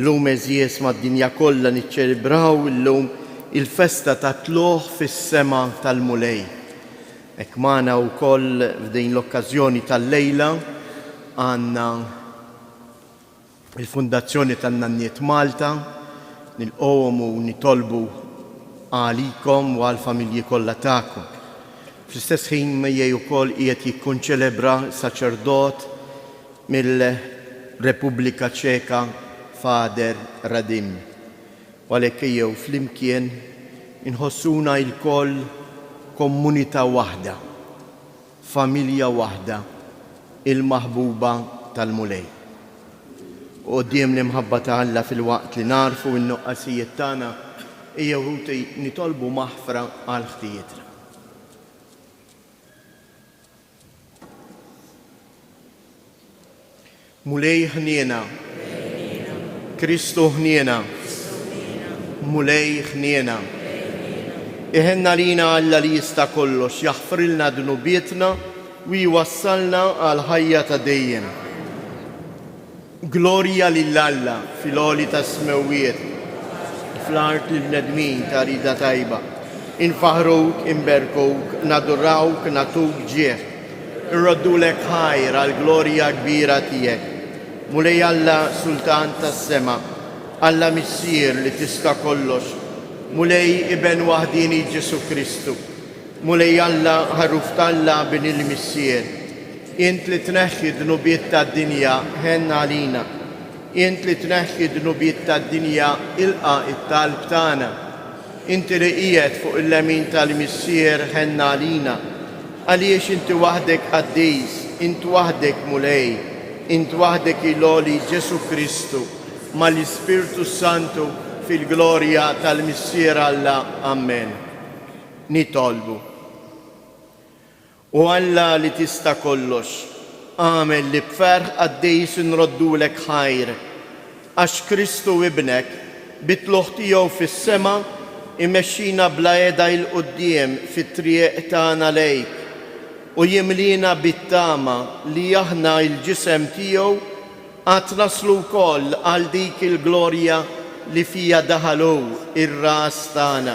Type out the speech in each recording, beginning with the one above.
Llum għeżież mad-dinja kollha niċċelebraw illum il-festa tat-tlugħ fis-sema tal-Mulej. Hekk magħna wkoll f'din l-okkażjoni tal-lejla għandna l-Fundazzjoni tan-Nanniet Malta. Nilqgħuhom u nitolbu għalikom u għall-familji kollha tagħkom. Fl-istess ħin miegħi wkoll qiegħed jikkonċelebra saċerdot Mill-Repubblika Ċeka Father Radim, u għalhekk ejjew flimkien inħossuna ilkoll kommunità waħda, familja waħda, il-maħbuba tal-Mulej. U quddiem l-imħabba ta' Alla filwaqt li nagħrfu n-nuqqasijiet tagħna, ejjew ħuti nitolbu maħfra għal ħtijietna. Mulej ħniena. Kristu ħniena. Mulej ħniena. Iħenn għalina Alla li jista' kollox jaħfrilna dnubietna u jwassalna għal ħajja ta' dejjem. Glorja lil Alla fil-għoli tas-smewwiet, u fl-art lill-bnedmin ta' rieda tajba. Infaħħruk, inberkuk, nadurawk, nagħtuk ġieħ, inroddulek ħajr għall-glorja kbira tiegħek. Mulej Alla, Sultan tas-sema, Alla Missier li tiska' kollox, Mulej Iben waħdieni Ġesù Kristu, Mulej Alla, Ħaruf t'Alla, Bin il-Missier, Int li tneħħi d-dnubiet tad-dinja, ħenn għalina. Int li tneħħi d-dnubiet tad-dinja, ilqa' t-talb tagħna. Inti li qiegħed fuq il-lemin tal-Missier, ħenn għalina. Għaliex Inti waħdek qaddis, Int waħdek Mulej, Int waħdek il-għoli Ġesù Kristu, mal-Ispirtu s-Santu, fil-glorja tal-Missier Alla. Amen. Nitolbu. O Alla li tista' kollox, agħmel li b'ferħ qaddis inroddulek ħajr, għax Kristu Ibnek, bi tlugħ tiegħu fis-sema, imexxina bla heda 'il quddiem fit-triq tagħna lejk, u jimliena bit-tama li aħna, il-ġisem tiegħu, għad naslu wkoll għal dik il-glorja li fiha daħal hu, ir-Ras tagħna.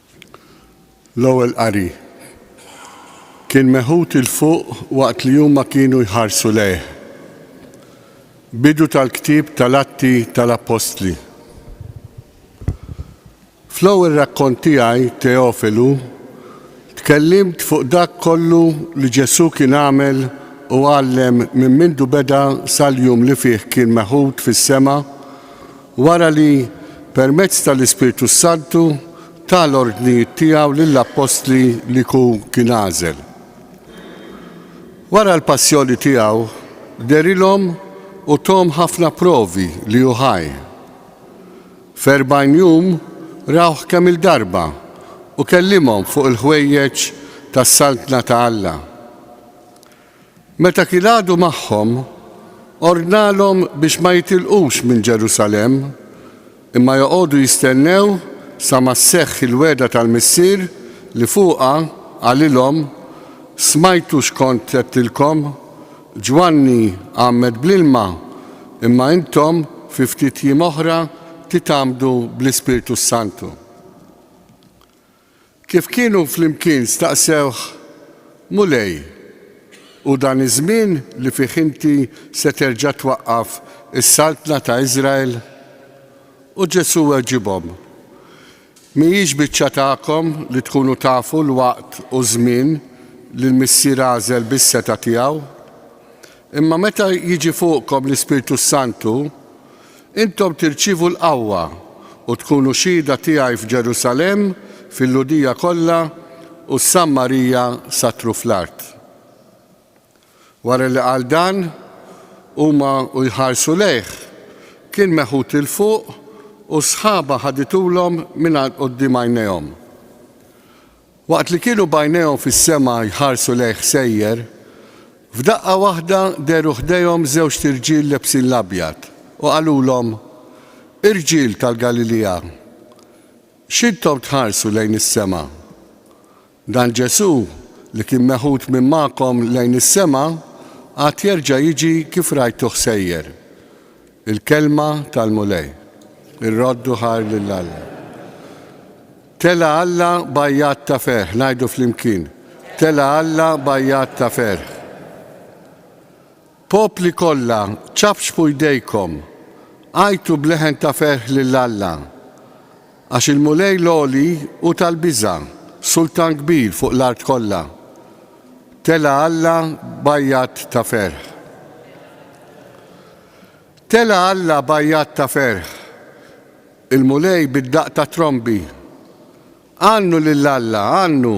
l-ewwel qari kien meħud 'il fuq waqt li huma kienu jħarsu lejh. Bidu tal-ktieb tal-Atti tal-Appostli. Fl-ewwel rakkont tiegħi, Teofilu, tkellimt fuq dak kollu li Ġesù kien għamel u għallem minn mindu beda sal-jum li fih kien meħud fis-sema Wara li, permezz tal-Ispirtu s-Santu, ta l-ordnijiet tiegħu lill-appostli li hu kien għażel. Wara l-passjoni tiegħu, derilhom u thom ħafna provi li hu ħaj. F'erbgħin jum rawh kemm-il darba u kellimhom fuq il-ħwejjeġ tas-Saltna ta' Alla. Meta kien għadu magħhom, ordnalhom biex ma jitilqux minn Ġerusalemm, imma joqogħdu jistennew sa ma sseħħ il-wegħda tal-Missier li fuqha qalilhom, Smajtu x'kont għedtilkom, Ġwanni għammed bl-ilma, imma intom fi ftit jiem oħra titgħammdu bl-Ispirtu s-Santu. Kif kienu flimkien staqsewh, Mulej, hu dan iż-żmien li fih inti se terġa' twaqqaf is-saltna ta' Iżrael? U Ġesù weġibhom, Mhijiex biċċa tagħkom li tkunu tafu l-waqt u ż-żmien li l-Missier għażel bis-setgħa tiegħu? Imma meta jiġi fuqkom l-Ispirtu s-Santu, Intom tirċievu l-qawwa, u tkunu xhieda tiegħi f'Ġerusalemm, fil-Lhudija kollha u s-Sammarija sat-truf l-art. Wara li qal dan, huma u jħarsu lejh, kien meħud 'il fuq u s-sħaba ħaditulhom mingħand quddiem għajnejhom. Waqt li kienu b'għajnejhom fis-sema jħarsu lejh sejjer, f'daqqa waħda dehru ħdejhom żewġt irġiel lebsin l-abjad u qalulhom, Irġiel tal-Galilija, x'intom tħarsu lejn is-sema? Dan Ġesù, li kien meħud minn magħkom lejn is-sema, għad jerġa' jiġi kif rajtuh sejjer. Il-kelma tal-Mulej. Ir-roddu ħar lil Alla. Tela' Alla b'għajjat ta' ferħ, ngħidu flimkien. Tela' Alla b'għajjat ta' ferħ. Popli kollha, ċafċfu jdejkom, għajtu b'leħen ta' ferħ lil Alla. Għax il-Mulej l-għoli hu tal-biża', sultan kbir fuq l-art kollha. Tela' Alla b'għajjat ta' ferħ. Tela' Alla b'għajjat ta' ferħ. Il-Mulej bid-daqq ta' trombi. Għannu lil Alla, għannu!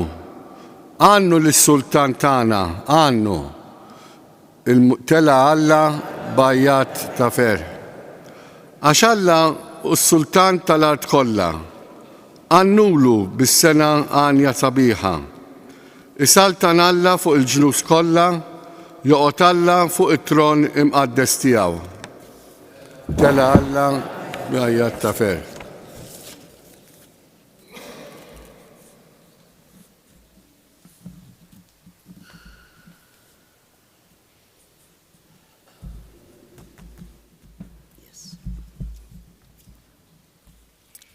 Għannu lis-Sultan tagħna, għannu! Il Tela' Alla b'għajjat ta' ferħ. Għax Alla hu s-Sultan tal-art kollha. Għannulu bis-sengħa għanja sabiħa. Isaltan Alla fuq il-ġnus kollha, joqgħod Alla fuq it-tron imqaddes tiegħu. Tela' Alla b'għajjat ta' ferħ.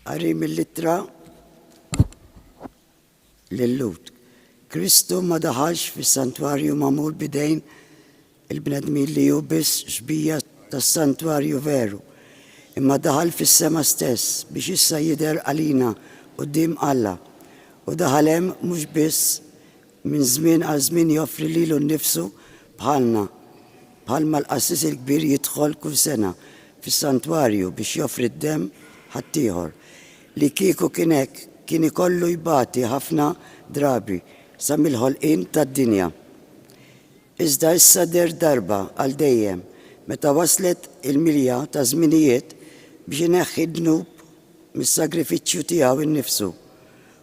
Qari mill-ittra L-Lhud. Kristu ma daħalx fis-santwarju magħmul b'idejn il-bnedmin li hu biss xbija tas-santwarju veru, imma daħal fis-sema stess biex issa jidher għalina quddiem Alla. Hu daħal hemm mhux biss minn żmien għal żmien joffri lilu nnifsu bħalna, bħalma l-qassis il-kbir jidħol kull sena fis-santwarju biex joffri d-demm ħaddieħor, Li kieku kien hekk, kien ikollu jbati ħafna drabi sa mill-ħolqien tad-dinja. Iżda issa deher darba għal dejjem meta waslet il-milja taż-żminijiet biex ineħħi d-dnub mis-sagrifiċċju tiegħu nnifsu.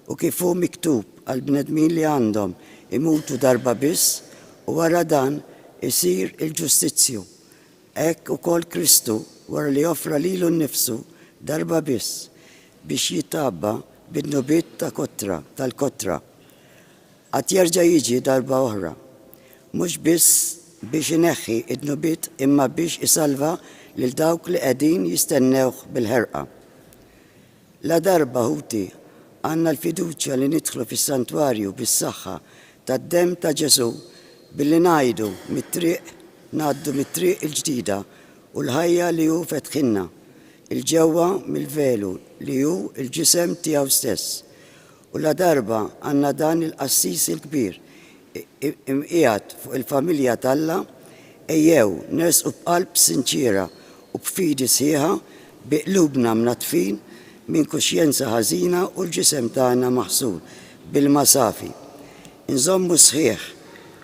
U kif hu miktub għall-bnedmin li għandhom imutu darba biss u wara dan isir il-ġustizzju Hekk ukoll Kristu, wara li offra lilu nnifsu darba biss biex jitgħabba bid-dnubiet ta' kotra, tal-kotra, għad jerġa' jiġi darba oħra, mhux biss biex ineħħi d-dnubiet imma biex isalva lil dawk li qegħdin jistennewh bil-ħerqa. Ladarba, ħuti, għandna l-fiduċja li nidħlu fis-santwarju bis-saħħa tad-demm ta' Ġesù billi ngħidu mit-triq, ngħaddu mit-triq il-ġdida u l-ħajja li hu fetħilna, 'il ġewwa mill-velu li hu l-ġisem tiegħu stess. U ladarba għandna dan il-qassis il-kbir imqiegħed fuq il-familja t'Alla, ejjew nersqu b'qalb sinċiera u b'fidi sħiħa, bi qlubna mnaddfin minn kuxjenza ħażina u l-ġisem tagħna maħsul b'ilma safi. Inżommu sħiħ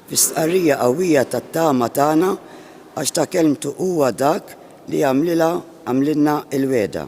fi stqarrija qawwija tat-tama tagħna għax ta' kelmtu huwa dak li għamlilha għamlilna l-wegħda.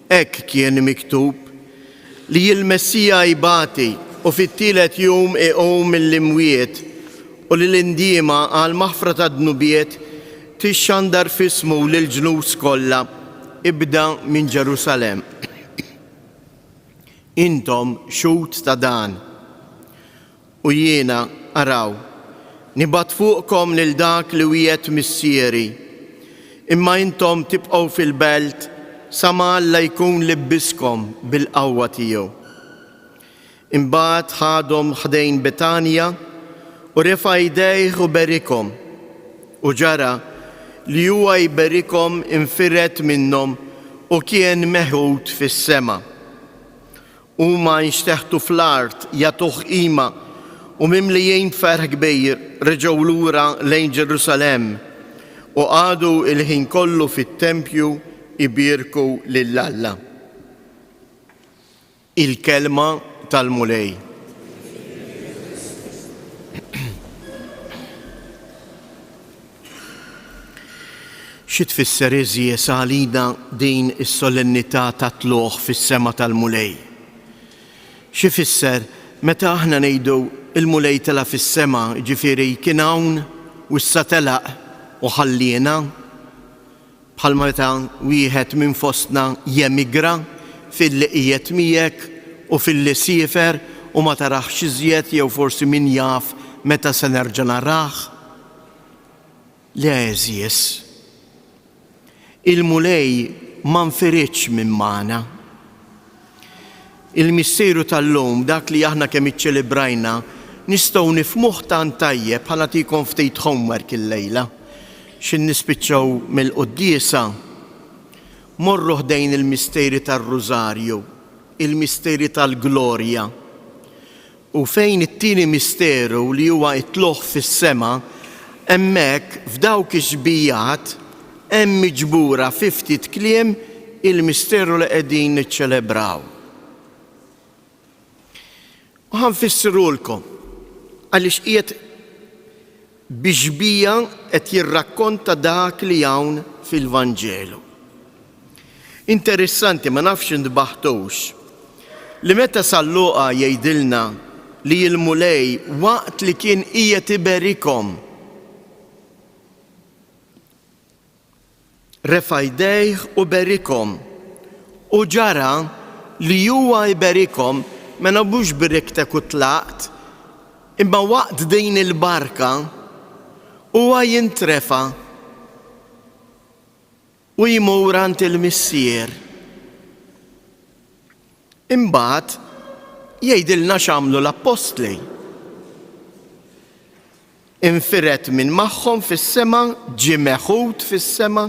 Hekk kien miktub, li l-Messija jbati u fit-tielet jum iqum mill-imwiet u li l-indiema għall-maħfra tad-dnubiet tixxandar f'ismu lill-ġnus kollha, ibda minn Ġerusalemm. Intom xhud ta' dan. U jiena, araw, nibgħat fuqkom lil dak li wiegħed Missieri, imma intom tibqgħu fil-belt sa ma Alla jkun libbiskom bil-qawwa tiegħu. Imbagħad ħadhom ħdejn Betanja u refa' idejh u berikhom. U ġara li huwa jberikhom infired minnhom u kien meħud fis-sema. Huma nxteħtu fl-art, jagħtuh qima, u mimlijin b'ferħ kbir reġgħu lura lejn Ġerusalemm u qagħdu l-ħin kollu fit-tempju jbierku lil Alla. Il-Kelma tal-Mulej. Xi tfisser għeżież għalina din is-solennità tat-tlugħ fis-sema tal-Mulej? Xi jfisser meta aħna ngħidu l-Mulej tela' fis-sema, jiġifieri kien hawn u issa telaq u ħalliena? bħalma meta wieħed minn fostna jemigra, f'illi qiegħed miegħek u f'illi siefer u ma tarahx iżjed jew forsi min jaf meta se nerġa' narah? Le għeżież. Il-Mulej ma nfiridx minn magħna. Il-Missieru tal-lum, dak li aħna kemm iċċelebrajna, nistgħu nifhmuh tant tajjeb ħa nagħtikom ftit homework illejla. X'in nispiċċaw mill-quddiesa, morru ħdejn il-misteri tar-Rużarju, il-misteri tal-glorja. U fejn it-tieni misteru li huwa t-tlugħ fis-sema, hemmhekk f'dawk ix-xbijat hemm miġbura fi ftit kliem il-misteru li qegħdin niċċelebraw. U ħa nfissirulkom għaliex qiegħed bi xbieha qed jirrakkonta dak li hawn fil-Vanġelu. Interessanti, ma nafx intbaħtux, li meta San Luqa jgħidilna li l-Mulej waqt li kien qiegħed iberikhom, refa' jdejh u berikhom. U ġara li huwa jberikhom, mela mhux b'riktek u tlaqt, imma waqt din il-barka, huwa jintrefa' u jmur għand il-Missier. Imbagħad jgħidilna x'għamlu l-Appostli. Infired minn magħhom fis-sema, ġie meħud fis-sema.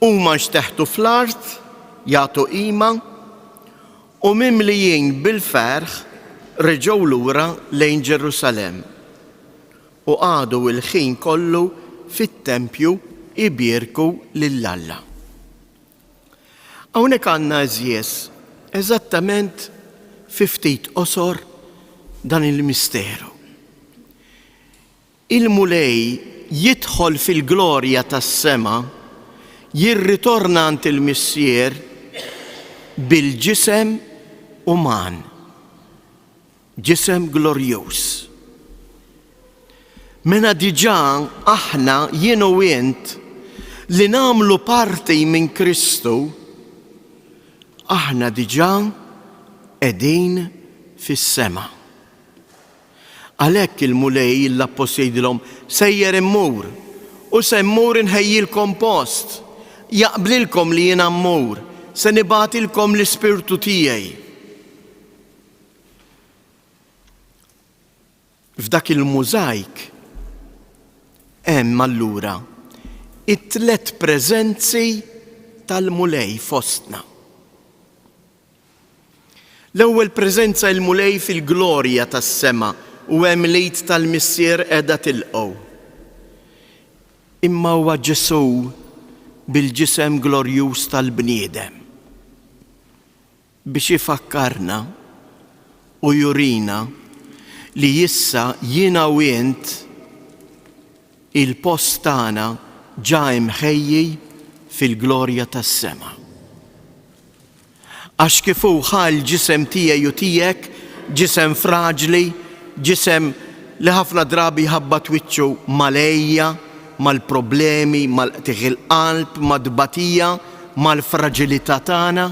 Huma nxteħtu fl-art, jagħtu qima, u mimlijin bil-ferħ reġgħu lura lejn Ġerusalemm. U qagħdu l-ħin kollu fit-tempju jbierku lil Alla. Hawnhekk għandna għeżież eżattament fi ftit qosor dan il-misteru. Il-Mulej jidħol fil-glorja tas-sema, jirritorna għand il-Missier bil-ġisem uman. Ġisem glorjuż. Mena diġà aħna jien u int li nagħmlu parti minn Kristu, aħna diġà qegħdin fis-sema. Għalhekk il-Mulej l-appost jgħidilhom sejjer immur u se mmur inħejjilkom post, jaqblilkom li jiena mmur, se nibatilkom l-ispirtu tiegħi. F'dak il-mużajk hemm allura it-tliet preżenzi tal-Mulej fostna. L-ewwel preżenza il-Mulej fil-glorja tas-sema u hemm l-id tal-Missier qiegħda tilqgħu. Imma huwa Ġesù bil-ġisem glorjuż tal-bniedem. biex ifakkarna u jurina li issa jiena u int il-post tagħna ġa imħejji fil-glorja tas-sema. Għax kif hu ħa l-ġisem tiegħi u tiegħek, ġisem fraġli, ġisem li ħafna drabi jħabbat wiċċu mal-għejja, mal-problemi, mal-qtigħ il-qalb, mat-tbatija, mal-fraġilità tagħna,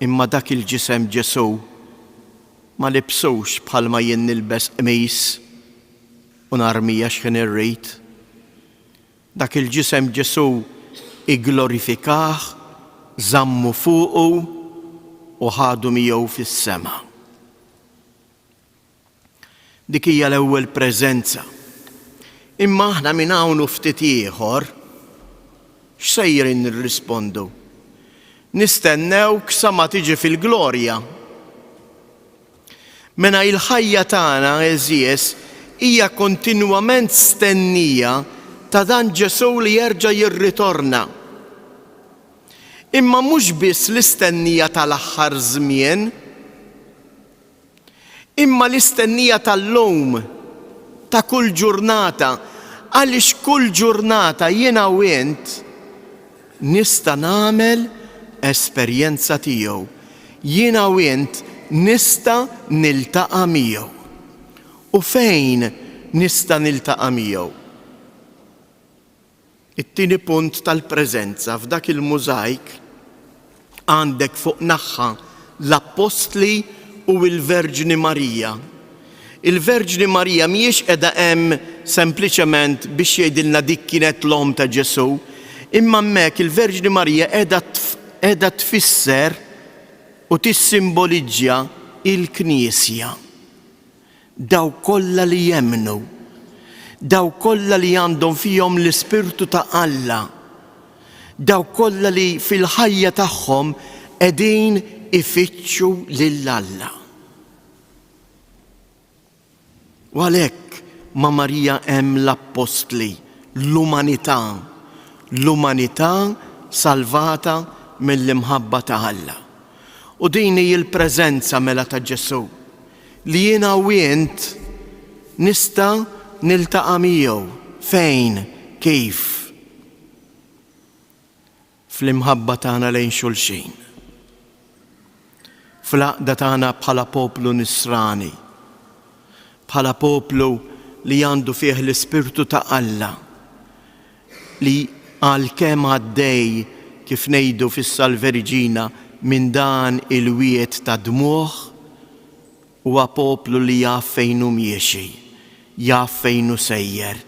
Imma dak il-ġisem Ġesù ma libsux bħalma jien nilbes qmis u narmija x'ħin irrid. Dak il-ġisem Ġesù igglorifikah, żammu fuqu u ħadu miegħu fis-sema. Dik hija l-ewwel preżenza. Imma aħna minn hawn u ftit ieħor x'sejrin nirrispondu? Nistennewk sa ma tiġi fil-glorja? Mena il-ħajja tagħna, għeżież, hija kontinwament stennija ta' dan Ġesù li jerġa' jirritorna. Imma mhux biss l-istennija tal-aħħar żmien, Imma l-istennija tal-lum, ta' kull ġurnata, għaliex kull ġurnata jiena u int nista' nagħmel esperjenza tiegħu, jiena u int nista' niltaqa' miegħu. U fejn nista' niltaqa' miegħu? It-tieni punt tal-preżenza, f'dak il-mużajk għandek fuq naħħa l-appostli u l-Verġni Marija. Il-Verġni Marija mhijiex qiegħda hemm sempliċement biex jgħidilna dik kienet l-omm ta' Ġesù, imma hemmhekk il-Verġni Marija qiegħda qiegħda tfisser u tissimboliġġja l-Knisja. Dawk kollha li jemmnu, dawk kollha li għandhom fihom l-Ispirtu ta' Alla, dawk kollha li fil-ħajja tagħhom qegħdin ifittxu lil Alla. U għalhekk ma' Marija hemm l-appostli, l-umanità, l-umanità salvata mill-imħabba ta' Alla. U din hi l-preżenza mela ta' Ġesù, li jiena u int nista' niltaqa' miegħu fejn, kif? Fl-imħabba tagħna lejn xulxin, fl-għaqda tagħna bħala poplu nisrani, bħala poplu li għandu fih l-Ispirtu ta' Alla, li għalkemm għaddej, kif ngħidu fis-Salve Regina, minn dan il-wied ta' dmugħ, huwa poplu li jaf fejn hu miexi, jaf fejn hu sejjer,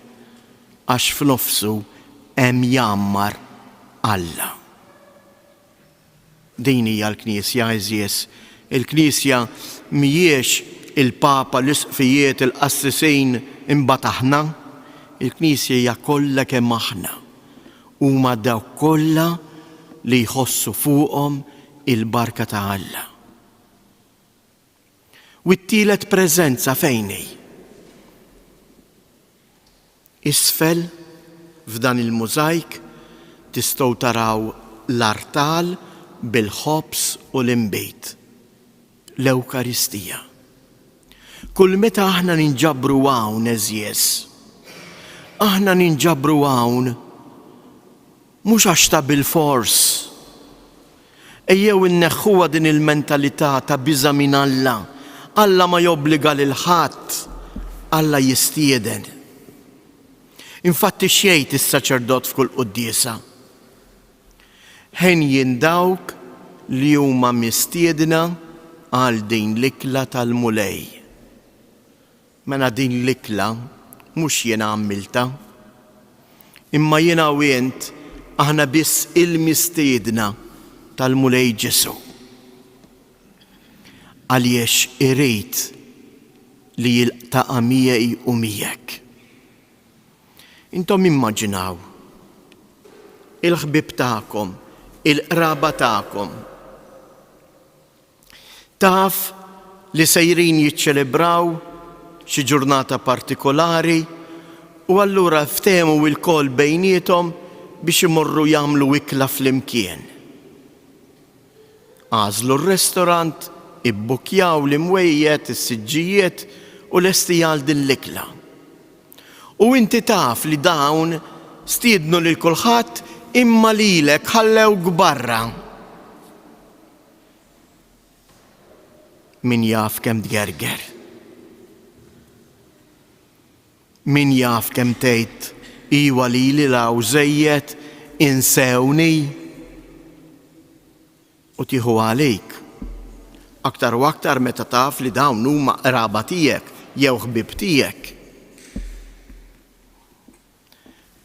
għax f'nofsu hemm jgħammar Alla. Din hija l-Knisja, għeżież. Il-Knisja mhijiex il-Papa, l-Isqfijiet, il-qassisin, imbagħad aħna. Il-Knisja hija kollha kemm aħna. Huma dawk kollha li jħossu fuqhom il-barka ta' Alla. U t-tielet preżenza fejn hi? Isfel f'dan il-mużajk tistgħu taraw l-artal bil-ħobż u l-inbid, l-Ewkaristija. Kull meta aħna ninġabru hawn, għeżież, aħna ninġabru hawn Mhux għax ta' bilfors. Ejjew inneħħuha din il-mentalità ta' biża' minn Alla. Alla ma jobbliga lil ħadd, Alla jistieden. Infatti x'jgħid is-saċerdot f'kull quddiesa? Henjin dawk li huma mistiedna għal din l-ikla tal-Mulej. Mela din l-ikla mhux jiena għammiltha. Imma jiena u int aħna biss il-mistiedna tal-Mulej Ġesù. Għaliex irid li jiltaqa' miegħi u miegħek. Intom immaġinaw il-ħbieb tagħkom, il-qraba tagħkom, Taf li sejrin jiċċelebraw xi ġurnata partikolari u allura ftehmu lkoll bejniethom biex imorru jagħmlu ikla flimkien. Għażlu r-restorant, ibbukkjaw l-imwejjed, is-siġġijiet u lestija għal din l-ikla. U inti taf li dawn stiednu lil kulħadd imma lilek ħallewk barra. Min jaf kemm tgerger. Min jaf kemm tgħid iwa lili law żejjed insewni u tieħu għalik. Aktar u aktar meta taf li dawn huma qraba tiegħek jew ħbieb tiegħek.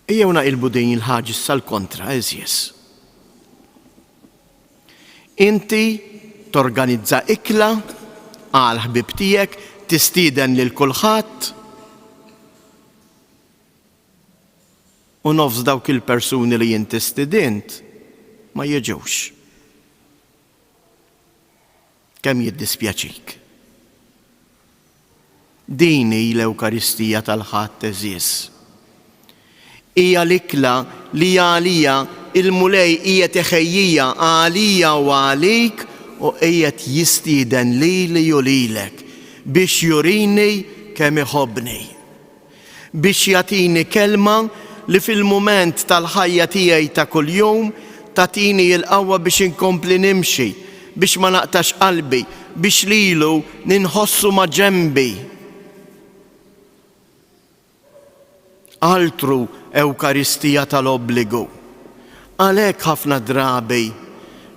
Ejjew naqilbu din il-ħaġa issa l-kontra, għeżież. Inti torganizza ikla għall-ħbieb tiegħek, tistieden lil kulħadd, u nofs dawk il-persuni li inti stidint ma jiġux. Kemm jiddispjaċik. Din hi l-Ewkaristija tal-Ħadd għeżież. Hija l-ikla li għalija il-Mulej qiegħed iħejjija għalija u għalik u qiegħed jistieden lili u lilek biex jurini kemm iħobbni. biex jagħtini kelma li fil-mument tal-ħajja tiegħi ta' kuljum tagħtini il-qawwa biex inkompli nimxi, biex ma naqtax qalbi, biex lilu ninħossu ma' ġenbi. Altru Ewkaristija tal-obbligu. Għalhekk ħafna drabi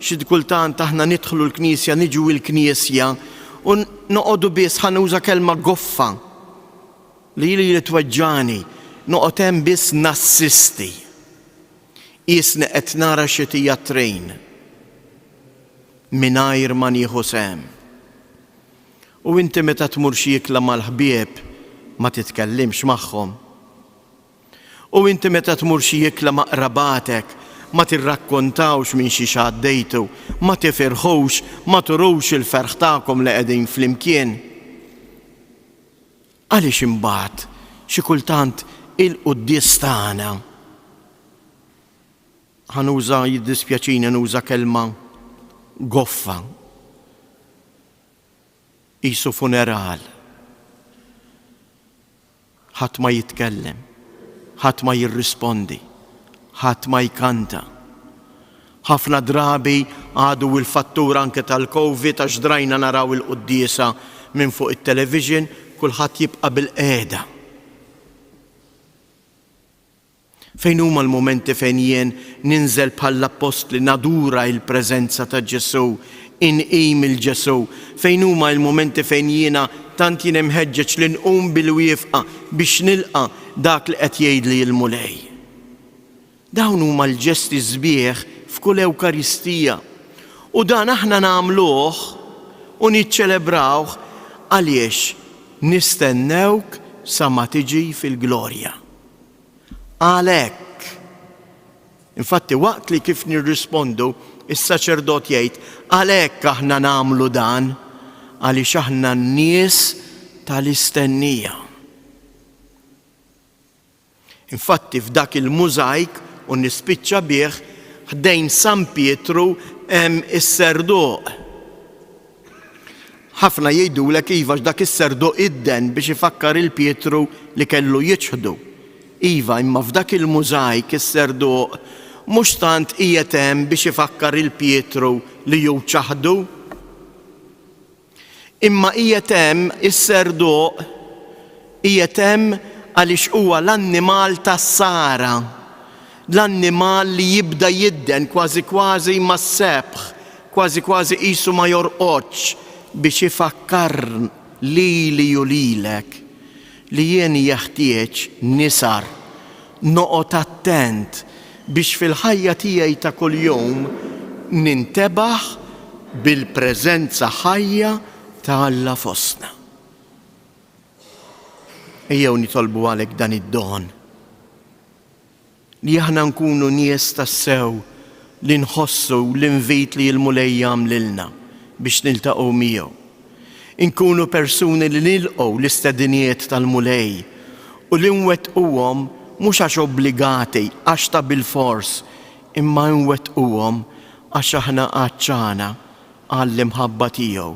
xi kultant aħna nidħlu l-Knisja, niġu il-Knisja u noqogħdu biss ħa nuża kelma goffa. Li lili tweġġagħni noqgħod hemm biss nassisti. Qiesni qed nara xi tijatrejn mingħajr ma nieħu sehem. U inti meta tmur xi ikla mal-ħbieb ma titkellimx magħhom? U inti meta tmur xi ikla ma' qrabatek ma tirrakkontawx minn xiex għaddejtu, ma tifirħux, ma turux il-ferħ tagħkom li qegħdin flimkien? Għaliex imbagħad xi kultant il-quddies tagħna, ħa nuża, jiddispjaċini nuża kelma goffa, qisu funeral, ħadd ma jitkellem, ħadd ma jirrispondi, ħadd ma jkanta. Ħafna drabi għadu il-fattur anke tal-Covid għax drajna naraw il-quddiesa minn fuq it-television, kulħadd jibqa' bil-qiegħda. Fejn huma l-mumenti fejn jien ninżel bħall-appostli nadura il-preżenza ta' Ġesù, inqim il Ġesù? Fejn huma il-mumenti fejn jiena tant jien imħeġġeġ li nqum bil-wieqfa biex nilqa' dak li qed jgħidli l-Mulej? Dawn huma l-ġesti sbieħ f'kull Ewkaristija, u dan aħna nagħmluh u niċċelebrawh għaliex nistennewk sa ma tiġi fil-glorja. Għalhekk. Infatti, waqt li kif nirrispondu, is-saċerdot jgħid, Għalhekk aħna nagħmlu dan, għaliex aħna n-nies tal-istennija. Infatti f'dak il-mużajk, u nispiċċa bih, ħdejn San Pietru hemm is-serduq. Ħafna jgħidulek iva għax dak is-serduq idden biex ifakkar 'il Pietru li kellu jiċħdu. Iva, imma f'dak il-mużajk is-serduq mhux tant qiegħed hemm biex ifakkar 'il Pietru li hu ċaħdu. Imma qiegħed hemm is-serduq, qiegħed hemm għaliex huwa l-annimal tas-sara, l-annimal li jibda jidden kważi kważi mas-sebħ, kważi kważi qisu ma jorqodx, biex ifakkar lili u lilek. Li jien jeħtieġ nisar, noqgħod attent biex fil-ħajja tiegħi ta' kuljum nintebaħ bil-preżenza ħajja ta' Alla fostna. Ejjew nitolbu għalhekk dan id-don. Li aħna nkunu nies tassew li nħossu l-invit li l-Mulej jagħm lilna biex niltaqgħu miegħu. Inkunu persuni li nilqgħu l-istediniet tal-Mulej u li nwettquhom mhux għax obbligati, għax ta' bilfors, imma nwettquhom għax aħna għatxana għall-imħabba tiegħu,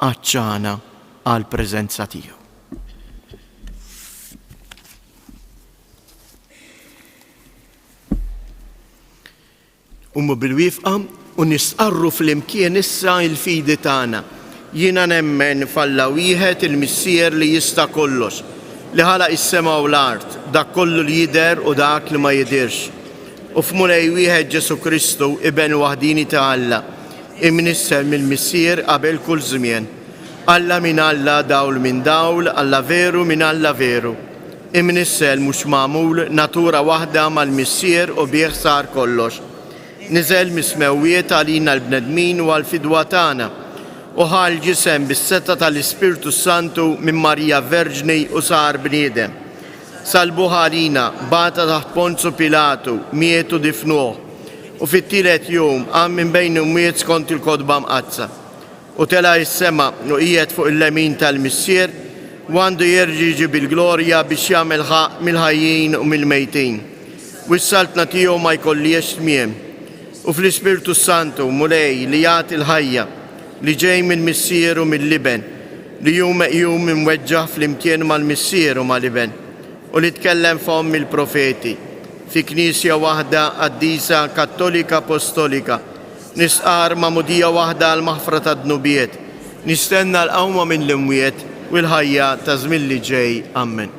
għatxana għall-preżenza tiegħu. Ummu bil-wifqa u nistqarru fl-imkien issa il-fidi tagħna. Jiena nemmen f'Alla wieħed il-Missier li jista' kollox, li ħalaq is-sema u l-art, dak kollu li jidher u dak li ma jidhirx. U f'Mulej wieħed Ġesu Kristu, Iben waħdini ta' Alla, imnissel mill-Missier qabel kull żmien. Alla minn Alla, dawl minn dawl, Alla veru minn Alla veru. Imnissel mhux magħmul, natura waħda mal-Missier u bih sar kollox. Niżel mis-smewwiet għalina l-bnedmin u għall-fidwa tagħna, u ħa l-ġisem bis-setgħa tal-Ispirtu s-Santu minn Marija Verġni u sar bniedem. Salbuh għalina, bata taħt Ponzu Pilatu, miet u difnuh, u fit-tielet jum qam minn bejn l-imwiet skont il-Kotba Mqaddsa. U tela' is-sema, u qiegħed fuq il-lemin tal-Missier, u għandu jerġa' jiġi bil-glorja biex jagħmel ħaqq mill-ħajjin u mill-mejtin, u s-saltna tiegħu ma jkollhiex tmiem. U fl-Ispirtu s-Santu, Mulej, li jagħti l-ħajja, li ġej mill-Missier u mill-Iben, li hu meqjum imweġġaħ flimkien mal-Missier u mal-Iben, u li tkellem fomm il-profeti, fi Knisja waħda qaddisa kattolika apostolika, Nistqarr magħmudija waħda għall-maħfra tad-dnubiet. Nistenna l-qawma mill-imwiet u l-ħajja ta' żmien li ġej. Ammen.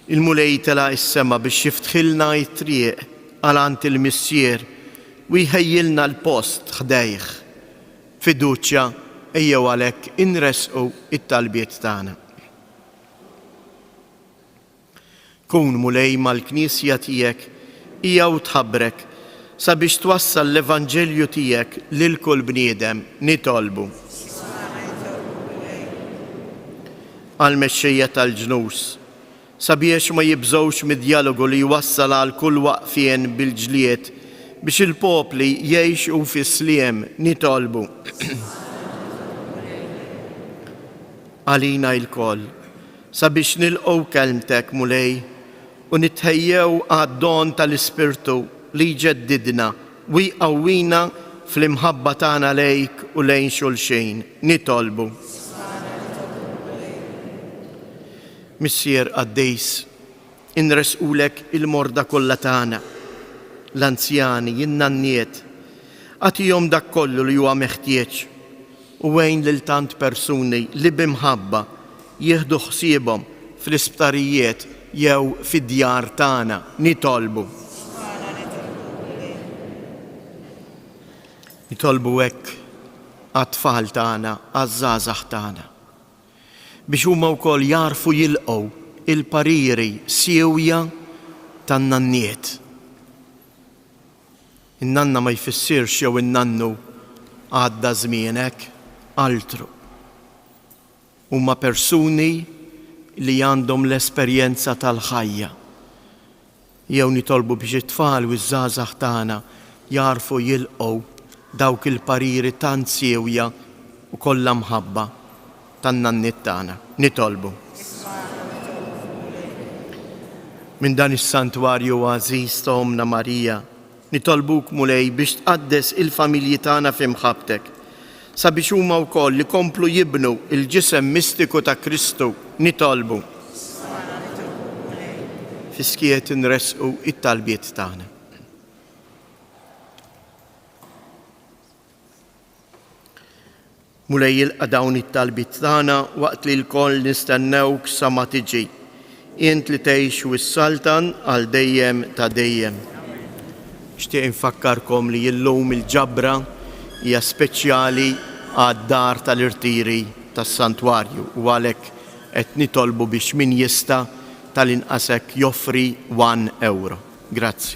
Il-Mulej telaq is-sema biex jiftħilna t-triq għal għand il-Missier u jħejjilna l-post ħdejh. B'fiduċja ejjew għalhekk inressqu t-talbiet tagħna. Kun Mulej mal-Knisja tiegħek hija u tħabbrek sabiex twassal l-Evanġelju tiegħek lil kull bniedem, nitolbu. Għall-mexxejja tal-ġnus, sabiex ma jibżgħux mid-djalogu li jwassal għal kull waqfien bil-ġlied biex il-popli jgħixu fis-sliem, nitolbu. Għalina ilkoll, Sabiex nilqgħu Kelmtek, Mulej, u nitħejjew għad-don tal-Ispirtu li jġeddidna u jqawwina fl-imħabba tagħna lejk u lejn xulxin, nitolbu. Ismagħna, nitolbuk, Mulej. Missier qaddis, Inressqulek il-morda kollha tagħna, l-anzjani, in-nanniet, agħtihom dak kollu li huwa meħtieġ u għin lil tant persuni li bi mħabba jieħdu ħsiebhom fl-isptarijiet jew fid-djar tagħna. Nitolbu. Nitolbu hekk għat-tfal tagħna, għaż-żgħażagħ tagħna. biex huma wkoll jagħrfu jilqgħu l-pariri siewja tan-nanniet. In-nanna ma jfissirx jew in-nannu għadda żmienek, altru. Huma persuni li għandhom l-esperjenza tal-ħajja. Jew nitolbu biex it-tfal u ż-żgħażagħ tagħna jagħrfu jilqgħu dawk il-pariri tant siewja u kollha mħabba tan-nanniet tagħna. Nitolbu. Minn dan is-Santwarju għażiż ta' Ommna Marija, Nitolbuk, Mulej, biex tqaddes il-familji tagħna f'imħabbtek, sabiex huma wkoll ikomplu jibnu l-ġisem mistiku ta' Kristu. Nitolbu. Fis-skiet inressqu t-talbiet tagħna. Mulej jilqa dawn it-talbiet tagħna waqt li lkoll nistennewk sa ma tiġi. Int li tgħix u ssaltan għal dejjem ta' dejjem. Nixtieq infakkarkom li illum il-ġabra hija speċjali għad-dar tal-irtiri tas-Santwarju u għalhekk qed nitolbu biex min jista' tal-inqas hekk joffri one ewro. Grazzi.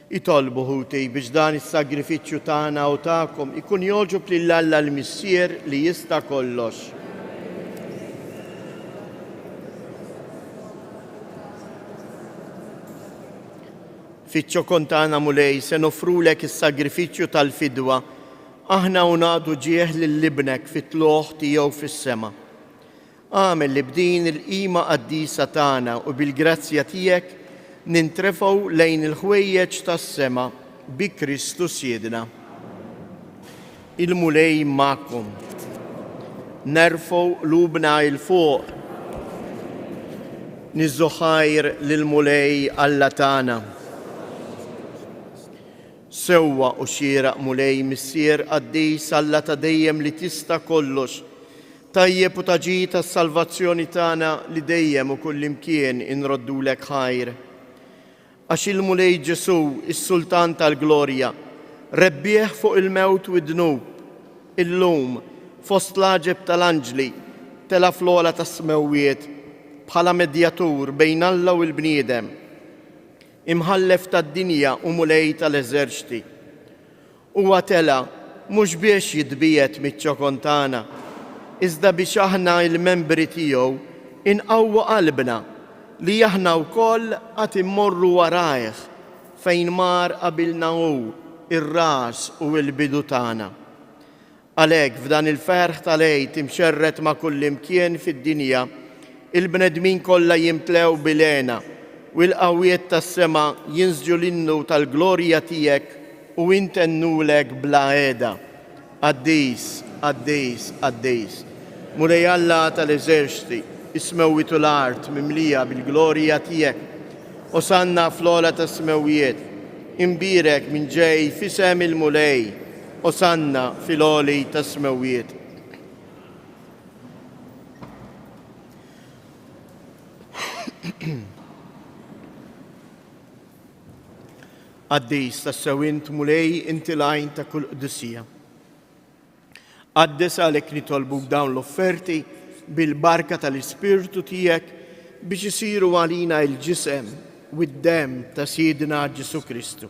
Itolbu, ħuti, biex dan is-sagrifiċċju tagħna u tagħkom ikun jogħġob lil Alla l-Missier li jista' kollox. Fiċ-ċokon tagħna Mulej se nofrulek is-sagrifiċċju tal-fidwa, aħna u nagħdu ġieħ lil Ibnek fit-tlugħ tiegħu fis-sema. Agħmel li b'din il-qima qaddisa tagħna u bil-grazzja tiegħek nintrefgħu lejn il-ħwejjeġ tas-sema bi Kristu Siedna. Il-Mulej magħkom. Nerfgħu qlubna 'il fuq. Niżżu ħajr lill-Mulej Alla tagħna. Sewwa u xieraq Mulej Missier qaddis Alla ta' dejjem li tista' kollox, Tajjeb u ta' ġid għas-salvazzjoni tagħna li dejjem u kullimkien inroddulek ħajr. Għax il-Mulej Ġesù, is-Sultan tal-glorja, rebbieħ fuq il-mewt u d-dnub, illum, fost l-għaġeb tal-anġli, tela' fl-ogħla tas-smewwiet bħala medjatur bejn Alla u l-bniedem, Imħallef tad-dinja u Mulej tal-eżerċti. Huwa tela' mhux biex jitbiegħed miċ-ċokon tagħna, iżda biex aħna, il-membri tiegħu, inqawwu qalbna li aħna wkoll għad immorru warajh fejn mar qabilna hu, ir-ras u l-bidu tagħna. Għalhekk, f'dan il-ferħ tal-Għid imxerred ma' kullimkien fid-dinja, il-bnedmin kollha jimtlew bil-hena, u l-qawwiet tas-sema jinsġu l-innu tal-glorja tiegħek u intennulek bla heda, Qaddis, qaddis, qaddis, Mulej Alla tal-eżerċti, is-smewwiet u l-art mimlija bil-glorja tiegħek. Osanna fl-ogħla tas-smewwiet, imbierek min ġej f'isem il-Mulej! Osanna fil-għoli tas-smewwiet. Qaddis tassew int Mulej inti l-għajn ta' kull qdissija. Qaddes għalhekk nitolbuk dawn l-offerti bil-barka tal-Ispirtu tiegħek biex isiru għalina il-ġisem u d-dem ta' Sidna Ġesu Kristu.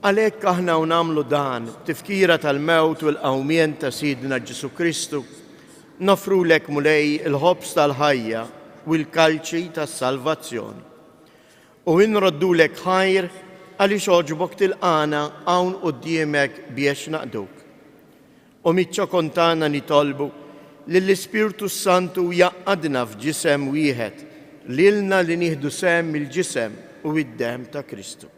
Għalhekk aħna u nagħmlu dan b'tifkira tal-mewt u l-qawmien ta' Sidna Ġesù Kristu, noffrulek, Mulej, il-ħobż tal-ħajja u l-kalċi tas-salvazzjoni. U nroddulek ħajr għaliex għoġbok tilqagħna hawn quddiemek biex naqduk. U miċ-ċokon tagħna nitolbu lill-Ispirtu s-Santu jgħaqqadna f'ġisem wieħed, lilna li nieħdu sehem mill-ġisem u d-demm ta' Kristu.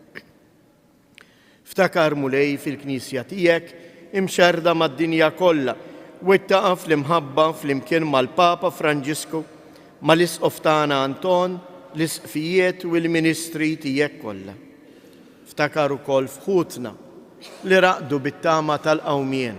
Ftakar, Mulej, fil-Knisja Tiegħek, imxerrda mad-dinja kollha, wittaqha fl-imħabba flimkien mal-Papa Franġisku, mal-Isqof tagħna Anton, l-Isqfijiet u l-ministri Tiegħek kollha. Ftakar ukoll f'ħutna li raqdu bit-tama tal-qawmien.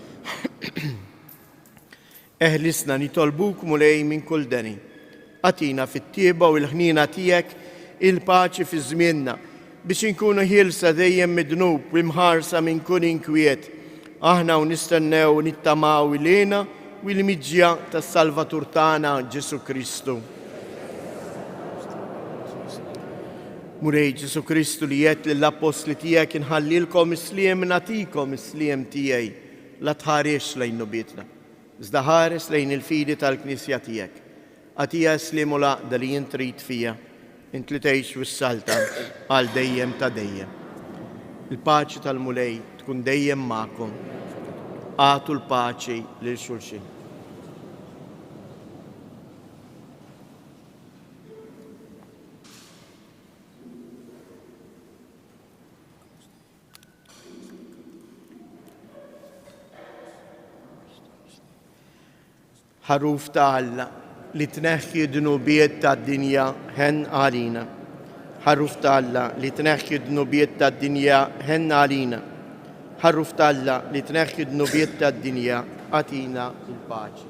Eħlisna nitolbuk, Mulej, minn kull deni. Atina fit-tieba u l-ħnina tiegħek il-paċi fi żmienna biex inkunu ħielsa dejjem mid-dnub u mħarsa minn kull inkwiet. Aħna u nistennew u nittamaw il-għina u l-miġja tas-Salvatur tagħna Ġesu Kristu. Mulej Ġesù Kristu li għedt lill-Appostli tiegħek inħallilkom is-sliem nagħtikom is-sliem tiegħi, la tħarisx lejn nubietna, iżda ħares lejn il-fidi tal-Knisja tiegħek. Agħtiha s-sliem u l-għaqda li int trid fiha, int li tgħix wissaltha għal dejjem ta' dejjem. Il-paċi tal-Mulej tkun dejjem magħkom. Agħtu l-paċi lil xulxin. ħaruf ta' Alla li tneħħi dnubiet ta' dinja ħen għalina. Ħaruf ta' Alla li tneħħi dnubiet ta' dinja ħen għalina. Ħaruf ta' Alla li tneħħi dnubiet ta' dinja għatina il-paċi.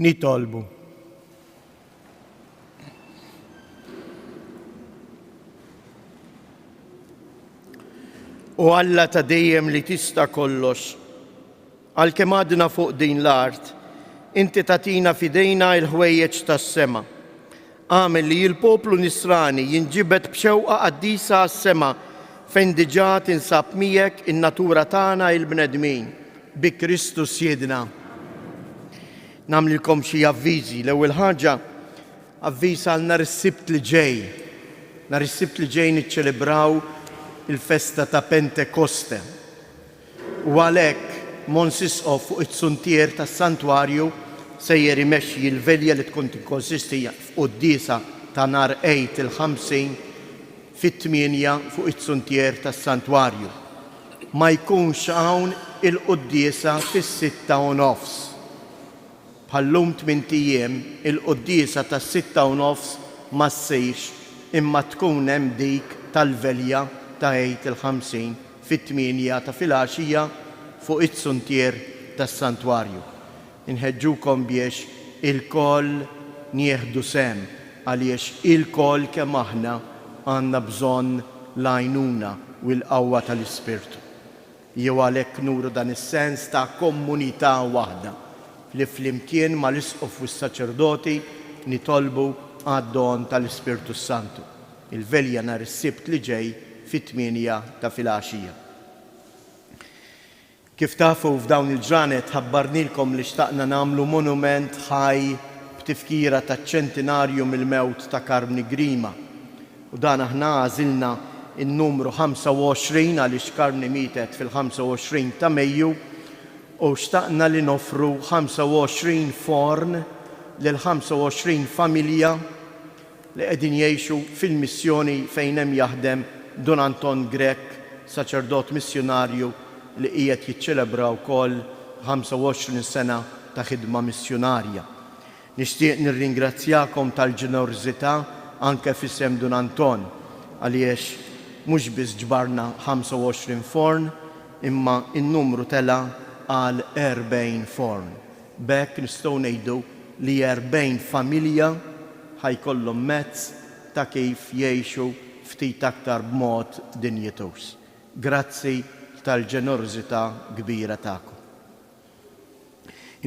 Nitolbu. U Alla ta' dejjem li tista' kollox, għal kemm għadna fuq din l-art, inti tatina fidejna il-ħwejjeġ tas-sema Agħmel li l-poplu Nisrani jinġibed b'xewqa qaddisa għas-sema fejn diġà tinsab miegħek in-natura tagħna il-bnedmin. Bi Kristu Sjiedna. Nagħmlilkom xi avviżi. L-ewwel ħaġa, avviż għal nhar is-Sibt li ġej. Nhar is-Sibt li ġej niċċelebraw il-festa ta' Pentekoste. u għalhekk Mons Isqof fuq it-suntier tas-santwarju sejjer imexxi l-velja li tkun tikkonsisti f'quddiesa ta' nhar Għid il-Ħamsin fit-tmienja fuq it-suntier tas-santwarju. Ma jkunx hawn il-quddiesa fis-sitta u nofs. Bħal-lum tmint ijiem il-quddiesa tas-sitta u nofs ma ssirx imma tkun hemm dik tal-velja ta' Għid il-Ħamsin. fit-tmienja ta' filgħaxija fuq iz-zuntier tas-santwarju. Inħeġġukom biex ilkoll nieħdu sehem għaliex ilkoll kemm aħna għandna bżonn l-għajnuna u l-qawwa tal-Ispirtu. Jew għalhekk nuru dan is-sens ta' komunità waħda li flimkien mal-Isqof u s-Saċerdoti nitolbu għad-don tal-Ispirtu s-Santu. il-Velja nhar is-Sibt li ġej fit-tmienja ta' filgħaxija. Kif tafu, f'dawn il-ġranet ħabbarnielkom li xtaqna nagħmlu monument ħaj b'tifkira taċ-ċentinarju mill-mewt ta' Carmni Grima. U dan aħna għażilna n-numru 25 għaliex Carmni mietet fil-25 ta' Mejju u xtaqna li noffru 25 forn lil 25 familja li qegħdin jgħixu fil-missjoni fejn hemm jaħdem Dun Anton Grech, saċerdot missjunarju li qiegħed jiċċelebra wkoll 25 sena ta' ħidma missjunarja. Nixtieq nirringrazzjakom tal-ġenerżità anke f'isem Dun Anton għaliex mhux biss ġbarna 25 forn imma n-numru tela' għal 40 forn. B'hekk nistgħu ngħidu li 40 familja ħa jkollhom mezz ta' kif jgħixu ftit aktar b'mod dinjituż, grazzi tal-ġenerożità kbira tagħkom.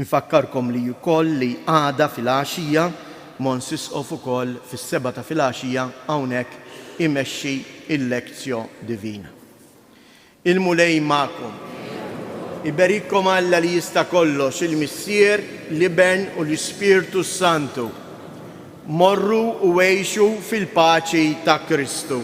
Infakkarkom li wkoll li għada filgħaxija Mons Isqof ukoll fis-sebgħa ta' filgħaxija hawnhekk imexxi l-Lectio Divina. Il-Mulej magħkom. Iberikkom Alla li jista' kollox, il-Missier, l-Iben u l-Ispirtu s-Santu. Morru u għixu fil-paċi ta' Kristu.